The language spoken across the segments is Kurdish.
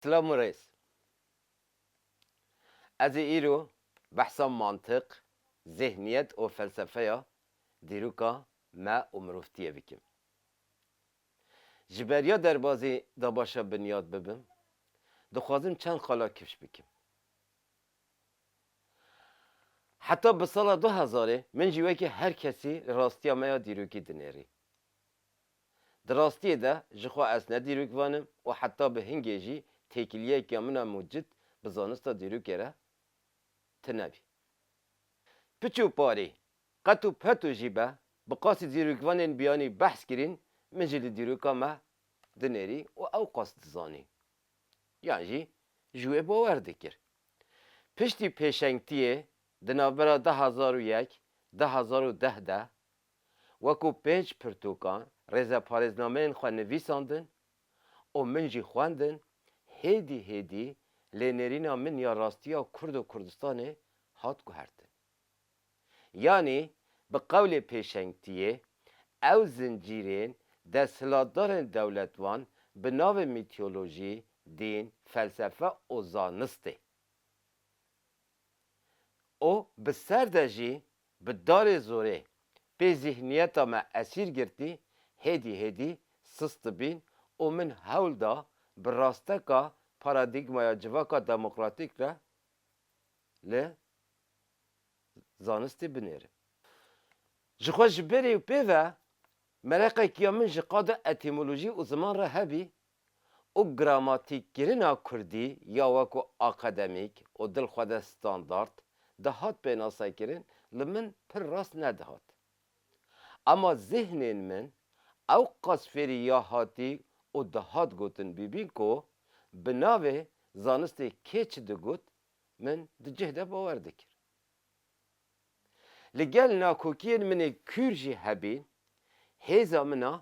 Silav Mirêz. Ez ê îro behsa mantiq, zêhniyet û felsefeya dîroka me û mirovtiyê bikim. Ji ber ya derbazî da başa binyat bibim, dixwazim çend xala kifş bikim. Heta bi sala du hezarê min jî wekî her kesî rastiya me ya dîrokî dinêrî. Di rastiyê de ji xwe ez ne dîrok vanim û heta bi hingê jî têkiliyekîa min a mucit bi zanista dîrokê re tune bî. Piç û parî, qet û peto jî be, bi qasî dîrokvanên biyanî behs kirîn, min jî li dîroka me dinêrî û ew qas dizanî. Yan jî ji wê bawer dikir. Piştî pêşengtiyê di navbera du hezar û yek, du hezar û deh de Wekû pênc pirtûkan rêzeparêznameyên xwe nivîsandin û min jî xwendin, hêdî hêdî lê nêrîna min ya rastiya Kurd û Kurdistanê hat guhertin. Yanî bi qewlê pêşengtiyê ew zincîrên desthilatdarên dewletvan bi navê mîtiyolojî, dîn, felsefe û zanistê. û bi ser de jî bi darê zorê pê zîhniyeta me esîr girtî, hêdî hêdî sist dibîn û min hewl da bi rasteka paradîgmaya civaka demokratîk re li zanistî binêrim. Ji xwe ji berî û pê ve mereqek ya min ji qada etîmolojî û ziman re hebî, û gramatîkkirina kurdî ya weko akademîk û dilxwede standard dihat pênasekirin li min pir rast nedihat. Ema zîhnên min ew qas fêrî ya hatî û dihat gotin bûbîn ku bi navê zanistê kê çi digot min di cih de bawer dikir. Li gel nakokiyên min ê kûr jî hebîn, hêza min a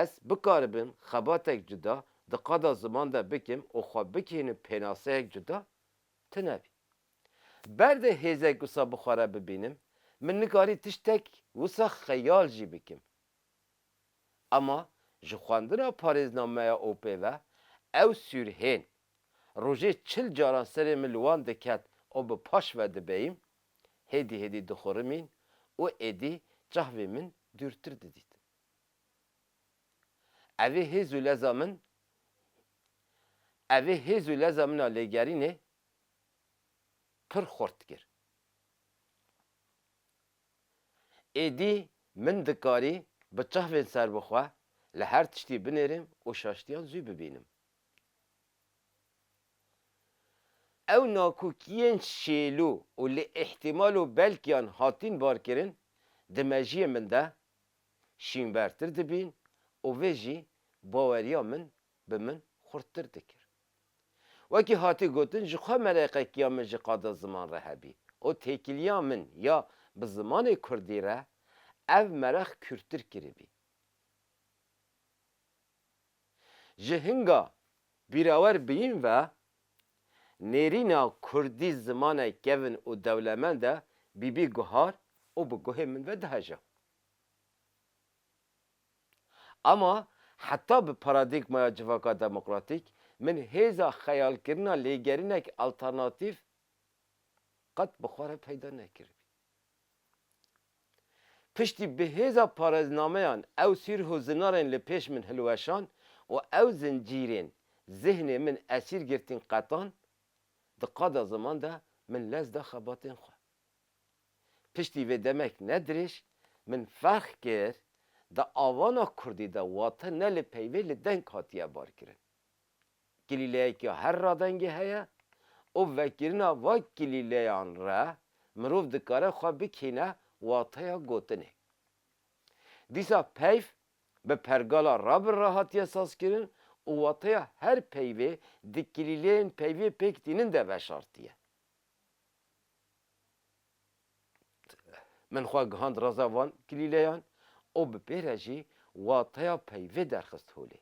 ez bikaribim xebatek cuda di qada ziman de bikim û xwe bigihînim pênaseyek cuda tune bî. Berdê hêzek wisa bi xwe re bibînim, min nikarî tiştek wisa xeyal jî bikim. Ama ji xwendina parêznameya OP ve ew sür hên. Rojê çil caran serê min li wan diket û bi paş ve dibeyim. Hêdî hêdî dixurimîn û êdî çavê min dûrtir didît. Evê hêz û leza min Evê hêz û leza min a lêgerînê pir xurt kir. Êdî min dikarî bi çavên serbixwe li her tiştî binêrim û şaştiyan zû bibînim. Ew nakokiyên şêlo û li îhtîmal û belkiyan hatîn barkirin di mejiyê min de şînbertir dibîn û vê jî baweriya min bi min xurttir dikir. Wekî hatî gotin ji xwe mereqekiya min ji qada ziman re hebî û têkiliya min ya bi zimanê kurdî re ev mereq kûrtir kiribî. Ji hinga bîrawer biyîn ve nêrîna kurdî zimane kevn û dewlemende bîbî guhar û bi guhê min ve diheja. Ama heta bi paradîgmaya civaka demokratîk, min hêza xeyalkirina lêgerinek alternatîf qet bi xwe re peyda nekiribî. Piştî bi hêza parêznameyan ew sîrh û zinarên li pêş min hilweşand û ew zincîrên zihnê min esîr girtîn qetan, di qada ziman de min lez da xebatên xwe. Piştî vê demek ne dirêj min ferq kir di avana kurdî de wate ne li peyvê li deng hatiye barkirin. Kilîleyeke her radengê heye û vekirina va kilîleyan re mirov dikare xwe bikîne wateya gotinê. Dîsa peyv bi pergala ra bi ra hatiye sazkirin û wateya her peyvê di kilîleyên peyvê pêk tînin de veşartiye. Min xwe gihand reza van kilîleyan û bi pê re jî wateya peyvê derxist holê.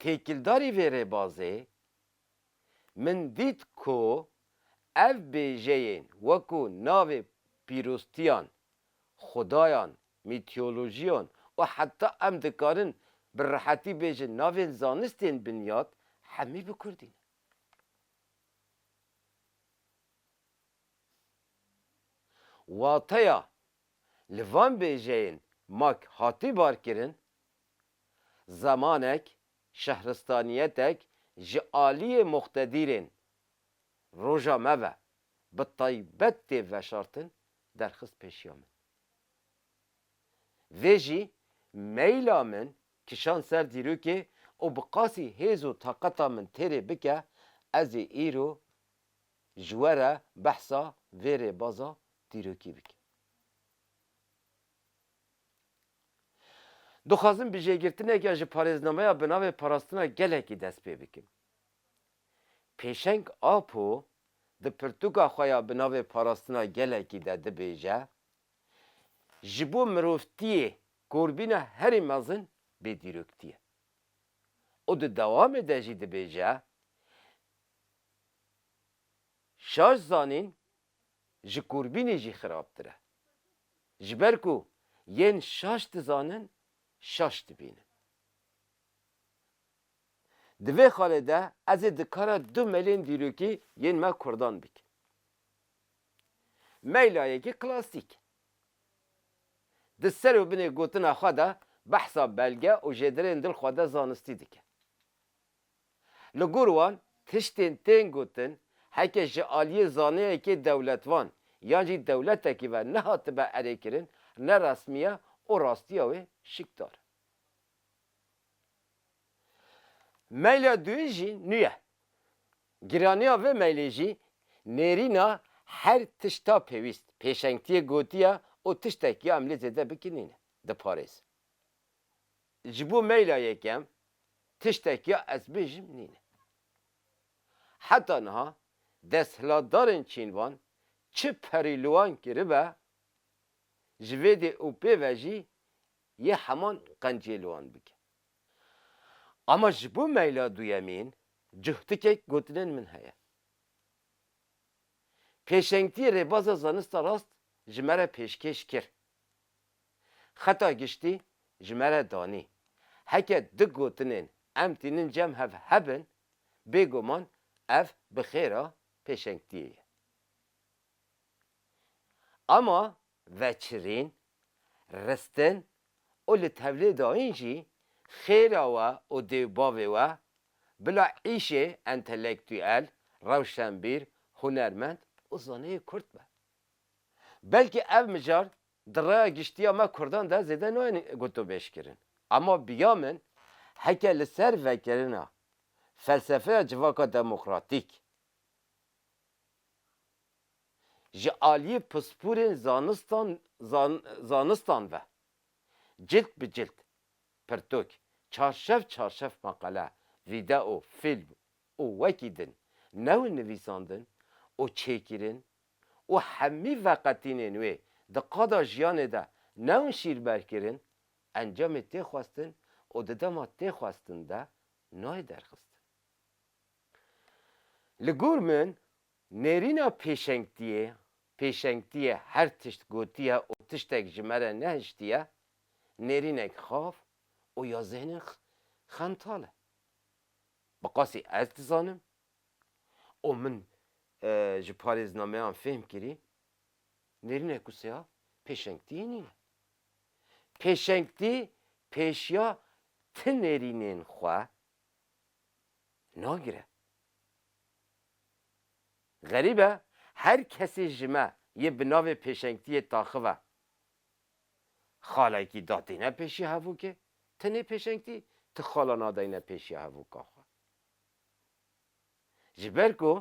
Têkildarî vê rêbazê min dît ku ev bêjeyên wekû navê pîrostiyan, xudayan, mîtolojiyan û heta em dikarin bi rihetî bêjin navên zanistên binyat hemî bi kurdî ne. Wateya li van bêjeyên mak hatî barkirin, zemanek, şehristaniyetek ji aliyê muqtedîrên roja me ve bi taybet tê veşartin derxist pêşiya min. Vê jî meyla min Kişand ser dîrokê û bi qasî hêz û taqeta min têrê bike, ez ê îro ji we re behsa vê rêbaza dîrokî bikim. Dixwazim bi jêgirtineke ji parêznameya bi navê Parastina Gelekî dest pê bikim. Pêşeng Apo di pirtûka xwe ya bi navê Parastina Gelekî de dibêje, Ji bo mirovtiyê Korbîna herî mezin bêdîrokîtî ye. Û di dewamê de jî dibêje, Şaş zanîn ji korbînê jî xirabtir e. Ji ber ku yên şaş dizanin, şaş dibînin. Di vê xalê de ez ê dikara du melên dîrokî yên me kurdan bikim. Meyla yekê klasîk e. Di ser û binê gotina xwe de behsa belge û jêdirên dil xwe de zanistî dike. Li gor wan tiştên tên gotin heke ji aliyê zaneyekê dewletvan yan jî dewletekî ve nehatibe erêkirin ne resmî ye û rastiya wê şikdar e. Meyla duyîn jî nû ye. Giraniya vê mailê jî nêrîna her tişta pêwîst, pêşengtiyê gotiye û tiştek ya em lê zêde bikin nîne. Diparêz. Ji bo maila yekem tiştek ya ez bêjim nîne. Heta niha desthilatdarên çînvan çi perî li wan kiribe, ji vê dê û pê ve jî yê heman qenciyê li wan bike. Ama ji bo meyla duyemîn cuhtikek gotinên min heye. Pêşengtî rêbaza zanista rast ji me re pêşkêş kir. Xeta giştî ji me re danî. Heke du gotinên em tînin cem hev hebin, bêguman ev bi xêra pêşengtiyê ye. Ama veçirîn, ristin û li tevlê dayîn jî xêra we û dê û bavê we bila îşê entelektûyel, rewşenbîr, hunermend û zaneyê kurd be. Belkî ev mijar di raya giştiya me kurdan de zêde nayên gotûbêjkirin. Ema biya min heke li ser vekirina felsefeya civaka demokratîk, ji aliyê pispûrên zanistan ve cilt bi cilt, pirtûk, çarşev çarşev meqale, vîdeo, fîlm û wekî din newên nivîsandin û çêkirin û hemî veqetînên wê di qada jiyanê de newên şîrberkirin encamê tê xwestin û di dema tê xwestin de nayê derxistin. Li gor min Nêrîna pêşengtiyê, pêşengtiyê her tişt gotiye û tiştek ji me re nehiştiye, nêrînek xav û ya zêhnên xemtal e. Bi qasî ez dizanim û min ji parêznameyan fêhm kirî, nêrînek ku sêav pêşengtiyê nîne. Pêşengtî pêşiya ti nêrînên xwe nagire. Xerîb e, her kesê ji me yê bi navê pêşengtiyê taxive. Xalekî datêne pêşiya hevokê, ti nê pêşengtî, ti xala nadayne pêşiya hevoka xwe. Ji ber ku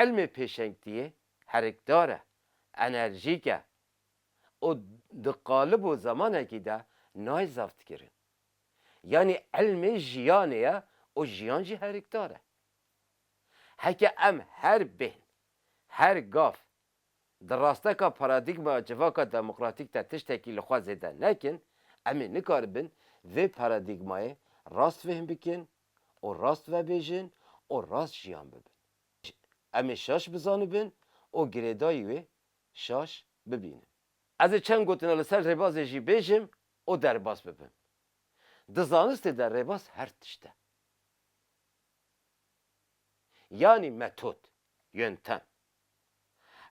ilmê pêşengtiyê herikdar e, enerjîk e û di qalib û zemanekî de nayê zaftkirin. Yanî ilmê jiyanê ye û jiyan jî herikdar e. Heke em her bêhn, her gav di rasteka paradîgmaya civaka demokratîk de tiştekî li xwe zêde nekin, em ê nikaribin vê paradîgmayê rast fêhm bikin û rast vebêjin û rast jiyan bibin. Em ê şaş bizanibin û girêdayî wê şaş bibînin. Ez ê çend gotina li ser rêbazê jî bêjim û derbas bibim. Di zanistê de rêbaz her tişt e. Yanî metod, yöntem.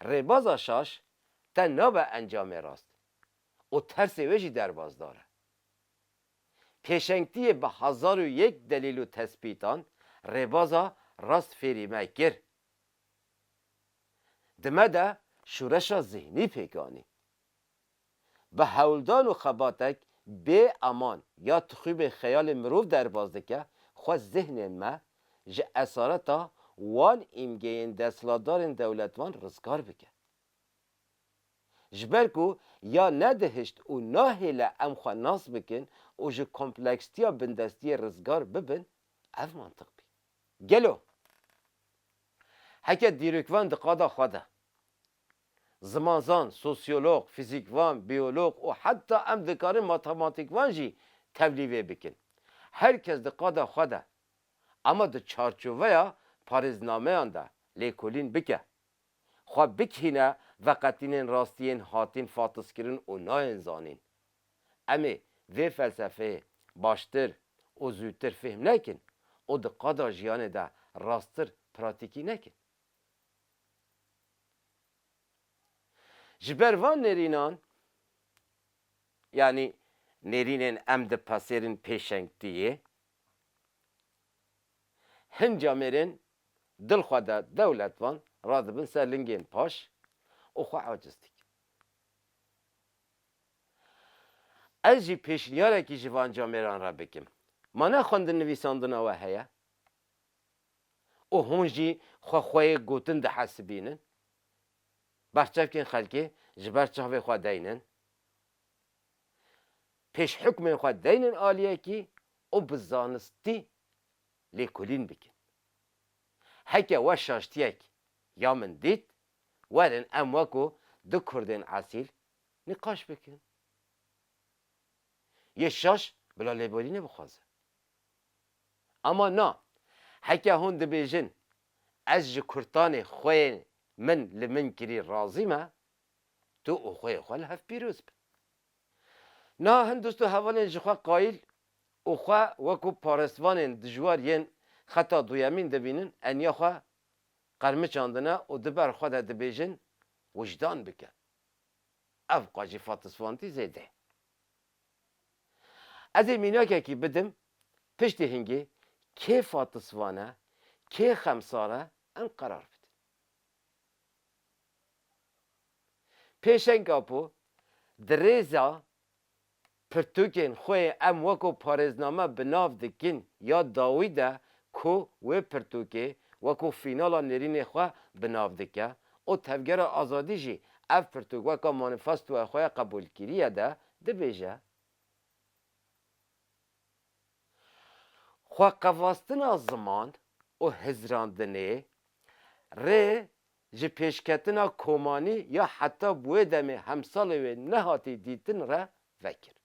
Rêbaza şaş te nabe encamê rast û tersê wê jî derbazdar e. Pêşengtiyê bi hezar û yek delîl û tespîtan rêbaza rast fêrî me kir. Di me de şûreşa zihnî pêk anî. Bi hewldan û xebatek bê eman ya tixûbên xeyalê mirov derbas dike xwe zihnên me ji esareta wan îmgeyên desthilatdarên dewletvan rizgar bike. Ji ber ku ya nedihişt û nahêle em xwe nas bikin û ji komplekstiya bindestiyê rizgar bibin ev mantiq bî. Gelo heke dîrokvan di qada xwe de Zimanzan, sosyolog, fizîkvan, biyolog û heta em dikarin matematîkvan jî tevlî vê bikin. Her kes di qada xwe de ama di çarçoveya parêznameyan de lêkolîn bike. Xwe bikhîne veqetînên rastiyên hatin fatizkirin û nayên zanîn. Em ê vê felsefeyê baştir û zûtir fêhm nekin û di qada jiyanê de rasttir pratîkî nekin. Ji ber van nêrînan, yanî nêrînên em dipasêrin pêşengtiyê, hin camêrên dilxwede dewletvan radibin ser lingên paş û xwe aciz dikin. Ez jî pêşnîyarekî ji van camêran re bikim. Ma ne xwendin-nivîsandina we heye? û hûn jî xwe xwe yê gotin dihesibînin. Berçavkên xelkê ji ber çavê xwe deynin. Pêş hukmên xwe deynin aliyekî û bi zanistî lêkolîn bikin. Heke we şaştiyek ya min dît, werin em weko du kurdên esîl nîqaş bikin. Yê şaş bila lêbolînê bixwaze. Ama na, heke hûn dibêjin ez ji kurtanê xweyê min li min kirî razî me, tu û xweyê xwe li hev pîroz bin. Niha hin dost û hevalên ji xwe qayîl û xwe wekû parestvanên dijwar yên xeta duyemîn dibînin eniya xwe qermiçandine û di ber xwe de dibêjin wijdan bike. Ev qajî fatisfantî zêde ye. Ez ê mînakekî bidim, piştî hingê kê fatisvan e, kê xemsar e, em qerar bidin. Pêşeng Apo, Di rêza pirtûkên xwe yê em weko parêzname bi nav dikin ya dawî de ku wê pirtûkê weko fînala nêrînê xwe bi nav dike, û Tevgera Azadî jî ev pirtûk weka manîfestoya xwe ya qebûlkirîye de dibêje, Xweqevastina ziman û hizrandinê rê ji pêşketina komanî ya heta bi wê demê hemsalê wê nehatî dîtin re vekir.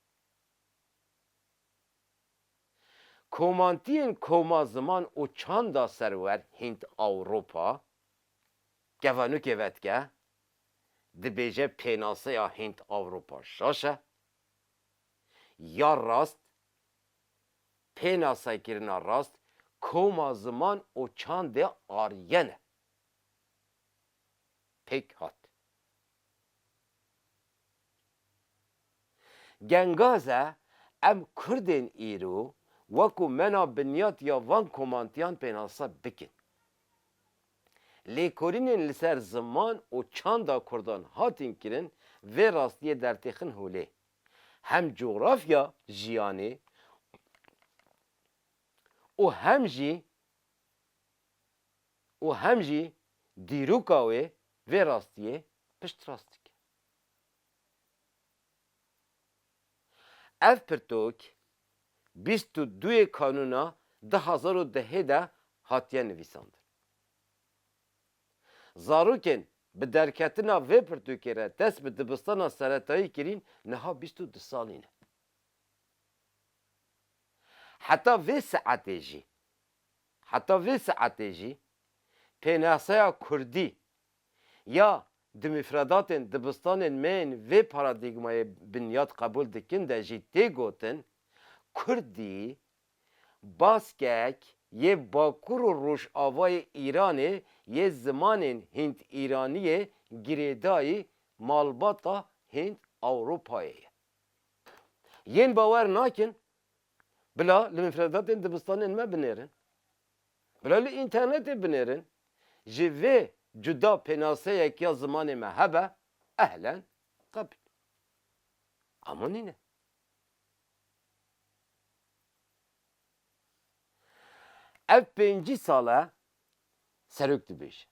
Komantiyên koma ziman û çanda serwer Hînd-Ewropa Kevanûkê vedike, dibêje pênaseya Hînd-Ewropa şaş e, ya rast, pênasekirina rast koma ziman û çandê Aryen e. Pêk hat. Gengaze em kurdên îro weko me na binyat ya van komantiyan pênase bikin. Lêkorînên li ser ziman û çanda kurdan hatin kirin vê rastiyê dertêxin holê. Hem cografya jiyanê û hem jî û hem jî dîroka wê vê rastiyê piştrast dikin. Ev pirtûk bîst û duyê kanûna du hezar û dehê de hatiye nivîsandin. Zarokên bi derketina vê pirtûkê re dest bi dibistana seretayî kirîn niha bîst û du salî ne. Heta vê saetê jî heta vê saetê jî pênasaya kurdî Ya di mifredatên dibistanên me yên vê paradîgmayê binyad qebûl dikin de jî tê gotin, Kurdî, Baskek, yê Bakur û Rojavayê Îranê yê zimanên Hînd-Îraniyê girêdayî malbata Hînd-Ewropayê ye. Yên bawer nakin bila li mifredatên dibistanên me binêrin. Bila li înternetê binêrin, ji vê cuda pênaseyek ya zimanê me hebe, ehlen, qebîl. Ama nîne. Ev pêncî sal e serok dibêje.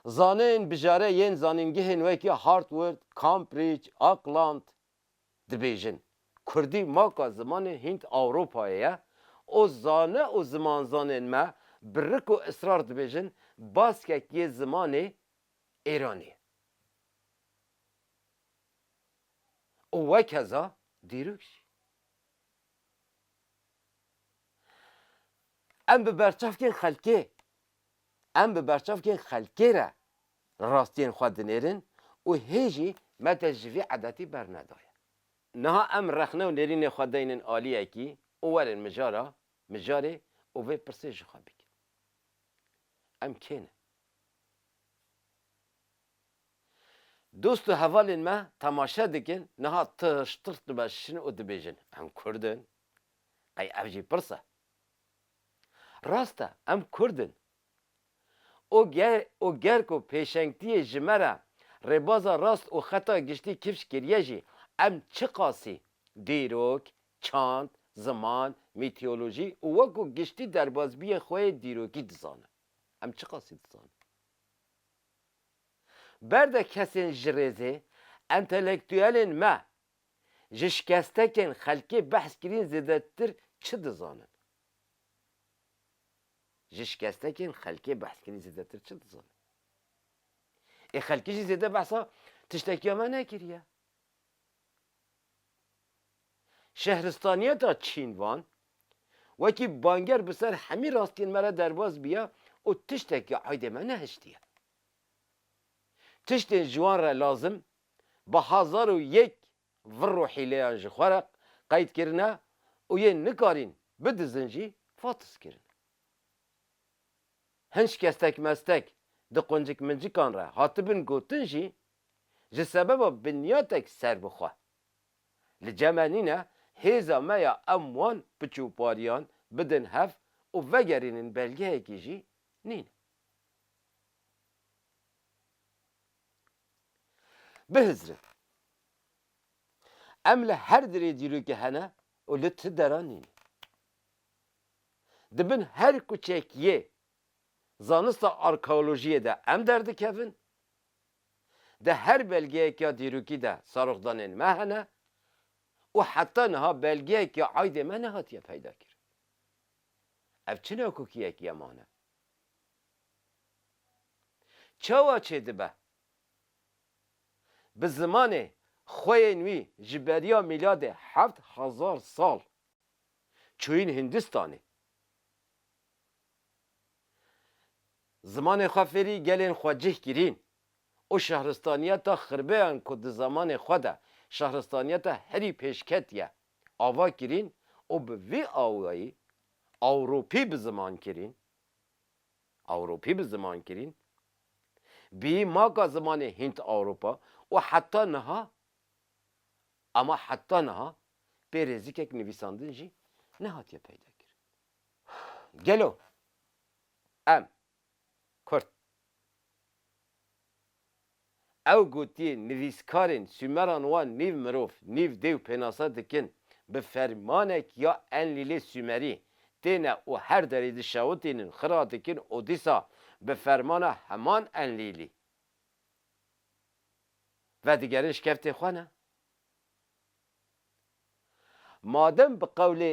Zaneyên bijare yên zanîngehên wekî Hartword, Cambridge, Auckland, dibêjin, Kurdî maka zimanên Hînd-Ewropayê ye û zane û zimanzanên me bi rik û israr dibêjin baskek yê zimanê Êranî ye û wekeza dîrok jî. Em bi berçavkên xelkê Em bi berçavkên xelkê re rastiyên xwe dinêrin û hê jî me dest ji vî edetî bernedaye. Niha em rexne û nêrînê xwe deynin aliyekî û werin mijara mijarê û vê pirsê ji xwe bikin. Em kê ne? Dost û hevalên me temaşe dikin, niha tişt tişt dimeşin û dibêjin, Em kurd in? Qey ev jî pirs e? Rast e em kurd in. O o ger ku pêşengtiyê ji me re rêbaza rast û xeta giştî kifş kiriye jî em çiqasî dîrok, çand, ziman, mîtiyolojî û wekû giştî derbazbiyên xwe yê dîrokî dizanin. Em çiqasî dizanin. Berde kesên ji rêzê, entelektûyelên me Ji şikestekên xelkê behs kirîn zêdetir çi dizanin? Ji şikestekên xelkê behs kirîn zêdetir çi dizanin? Ê xelkê jî zêde behsa tiştekiya me nekiriye. Şehristaniyeta Çînvan wekî banger bi ser hemî rastiyên me re derbas bîye û tiştekî eydê me nehiştiye. Tiştên ji wan re lazim bi hezar û yek vir û hîleyan ji xwe re qeyd kirine û yên nikarîn bidizin jî fatiz kirine. Hin şikestek mestek di quncik mincikan re hatibin gotin jî ji sebeba binyatek serbixwe. Li ceme nîne hêza me ya em wan piçûpariyan bidin hev û vegerînin belgeyekî jî nîne. Bihizrin. Em li her dirê dîrokê hene û li ti deran nîne. Di bin her kuçek yê zanista arkeolojiyê de em derdikevin, di her belgeyek ya dîrokî de seroxdanên me hene û heta niha belgeyek ya aydê me nehatiye peydakirin. Ev çi nakokiyekî ye mane? Çawa çêdibe? Bi zimanê xweyên wî ji beriya mîladê heft hezar sal çûyîn Hindistanê. Zimanê xwe fêrî gelên xwe cih kirîn û şehristaniyeta xirbeyan ku di zamanê xwe de şehristaniyeta herî pêşketiye ava kirîn û bi vî awayî Ewropî bi ziman kirîn, Ewropî bi ziman kirîn, bîyî maka zimanê Hînd-Ewropa û heta niha, ema heta niha pê rêzikek nivîsandin jî nehatiye peyda kirin. Gelo em Kurd. Ew gotiye nivîskarên Sûmeran wan nîv mirov, nîv dêw pênasa dikin, bi fermanek ya Enlîlê Sûmerî têne û her derê dişewitînin xira dikin û dîsa bi fermana heman Enlîlî vedigerin şkeftê xwe ne. Madem bi qewlê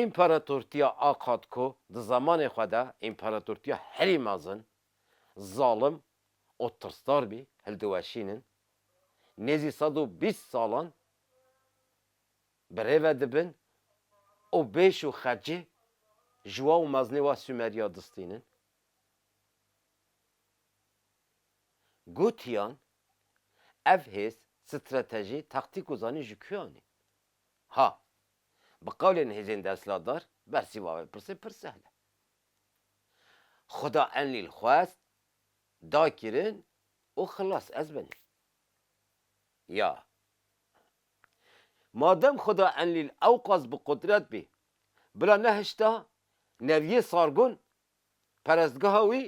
Împaratortiya Akkad ku di zemanê xwe de împaratortiya herî mezin, zalim û tirsdar bî hildiweşînin, nêzî sed û bîst salan birêve dibin û bêş û xecê jiwa û mezinê wa Sûmeriya distînin. Gotiyan, ev hêz, stratejî, taktîk û zanîn ji kuyan ê? Ha, bi qewlên hêzên desthilatdar bersîva vê pirsê pir sehl e. Xuda Enlîl xwest, da kirin û xilas ez bin. Ya. Madem Xuda Enlîl ewqas bi qudret bî, bila nehişta Neviyê Sargon perestgeha wî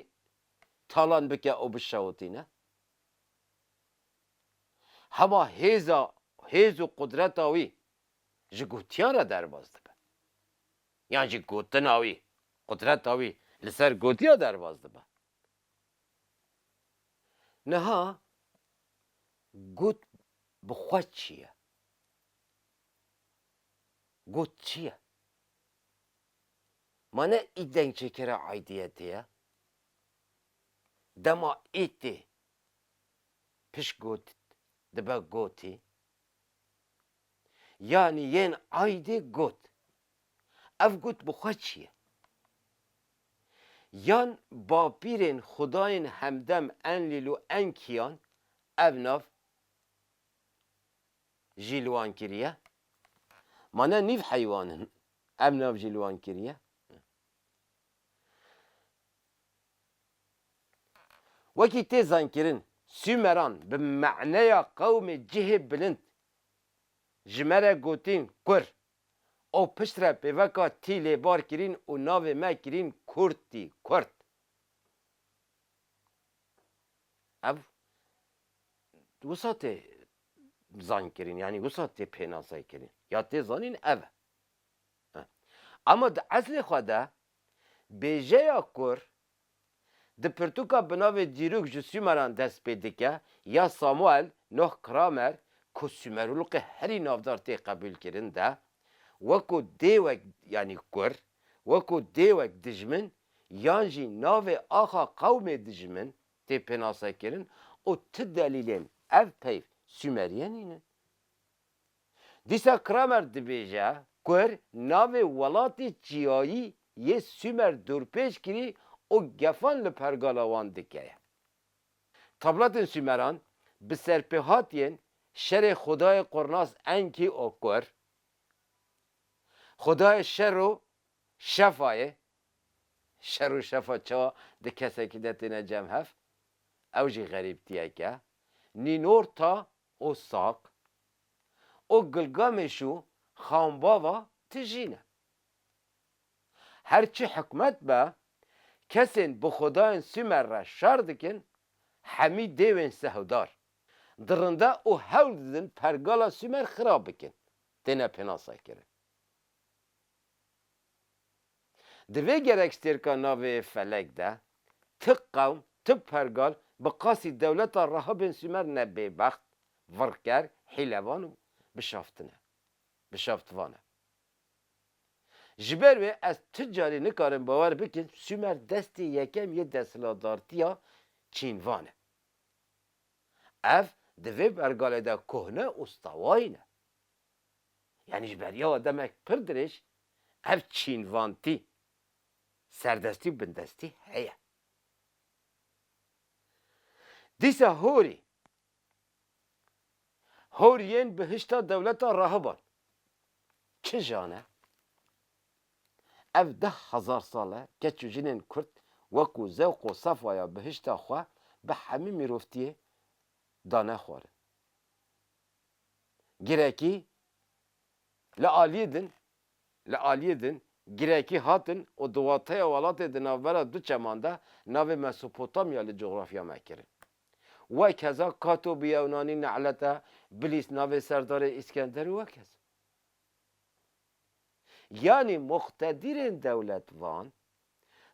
talan bike û bişewitîne? hema hêza hêz û qudreta wî ji gotiyan re derbas dibe yan jî gotina wî, qudreta wî li ser gotiya derbas dibe. Niha got bi xwe çi ye? Got çi ye? Ma ne î dengçêkera aîdiyetê ye? Dema î tê Pişt got dibe gotê. Yanî yên aydê got. Ev got bi xwe çi ye? Yan bapîrên xwedayên hemdem Enlîl û Enkiyan ev nav jî li wan kiriye? Ma ne nîv heywan in ev nav jî li wan kiriye? Wekî tê zankirin Sûmeran bi maneya qewmê cihê bilind ji me re gotîn Kur û piştre pêveka tî lê bar kirîn û navê me kirîn Kurtî, Kurt. Ev wisa tê zankirin yanî wisa tê pênaseykirin ya tê zanîn ev e. Ema di eslê xwe de Bêjeya kur di pirtûka bi navê Dîrûk ji Sûmeran dest pê dike ya Samuel Noh Kramer ku Sûmerûlqê herî navdar tê qebûlkirin de wekû dêwek yanî kur, wekû dêwek dijmin yan jî navê axa qewmê dijmin tê pênasekirin û ti delîlên ev peyv Sûmeriyê nînin. Dîsa Kramer dibêje Kur navê welatê çiyayî yê Sûmer dorpêç kirî û gefan li pergala wan dike ye. Tabletên Sûmeran bi serpêhatiyên şerê xwedayê Qurnas Enkî û Kur, xwedayê şer û şefa ye, şer û şefa çawa di kesekî de têne cem hev? Ew jî xerîbtiyek e. Nînorta û Saq û Gilgameş û Xanbava tijî ne. Her çi hikmet be, kesên bi xwedayên Sûmer re şer dikin, hemî dêwên sehdar, dirinde û hewl didin pergala Sûmer xirab bikin, têne pênasekirin. Di vê gerekstêrka navê Felek de, ti qewm, ti pergal bi qasî dewleta reha bên Sûmer ne bêbext, virker, hîlevan û bişaftin e. Bişaftvan e. Ji ber wê ez ti carî nikarim bawer bikim Sûmer destê yekem yê desthilatdartiya Çînvan e. Ev di vê pergalê de kohne û stewayîn e. Yanî ji beriya we demek pir dirêj ev çînvantî, serdestî û bindestî heye. Dîsa horî, hor yên bihişta dewleta rahiban kija ne? Ev deh hezar sal e keç û jinên kurd wekû zewq û safaya bihişta xwe bi hemî mîrovtiyê dane xwarin. girekî li aliyê din li aliyê din girekî hatin û di wateya welatê di navbera du çeman de navê Mesopotamya li cografya me kirin. Wek heza Kato bi yewnanî Ne'lete, Bilîs navê serdarê Îskenderê wek heza. Yanî muqtedirên dewlet van,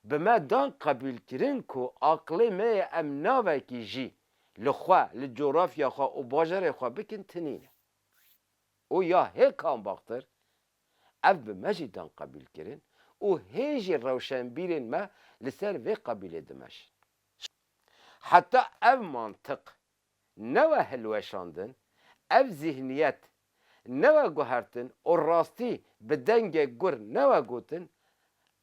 bi me dan qebûlkirin ku aqilê me yê em navekî jî li xwe, li cografya xwe û bajarê xwe bikin tinîne. Û ya hêkan baxtir, ev bi me jî dan qebûlkirin û hê jî rewşenbîrên me li ser vê qebûlê dimeşin. Heta ev mantiq newe hilweşandin, ev zîhniyet newe guhertin û rastî bi dengê gur newe gotin,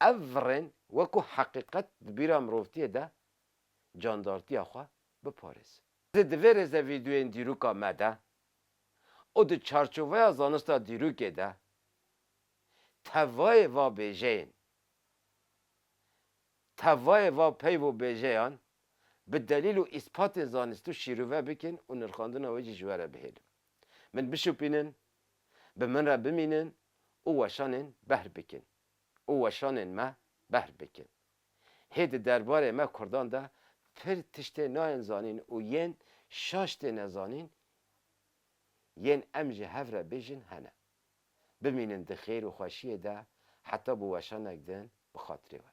ev virên wekû heqîqet di bîra mirovtiyê de candartiya xwe biparêzin. Di divê rêzevîdyoyên dîroka me de û di çarçoveya zanista dîrokê de tevayê va bêjeyên Tevayê va peyv û bêjeyan bi delîl û îspatên zanistû şîrove bikin û nirxandina wê jî ji we re bihêlin. Min bişopînin, bi min re bimînin û weşanên behr bikin û weşanên me behr bikin. Hê di derbarê me kurdan de pir tiştê nayên zanîn û yên şaş tê nezanîn yên em ji hev re bêjin hene. Bimînin di xêr û xweşiyê de heta bi weşanek din bi xatirê we.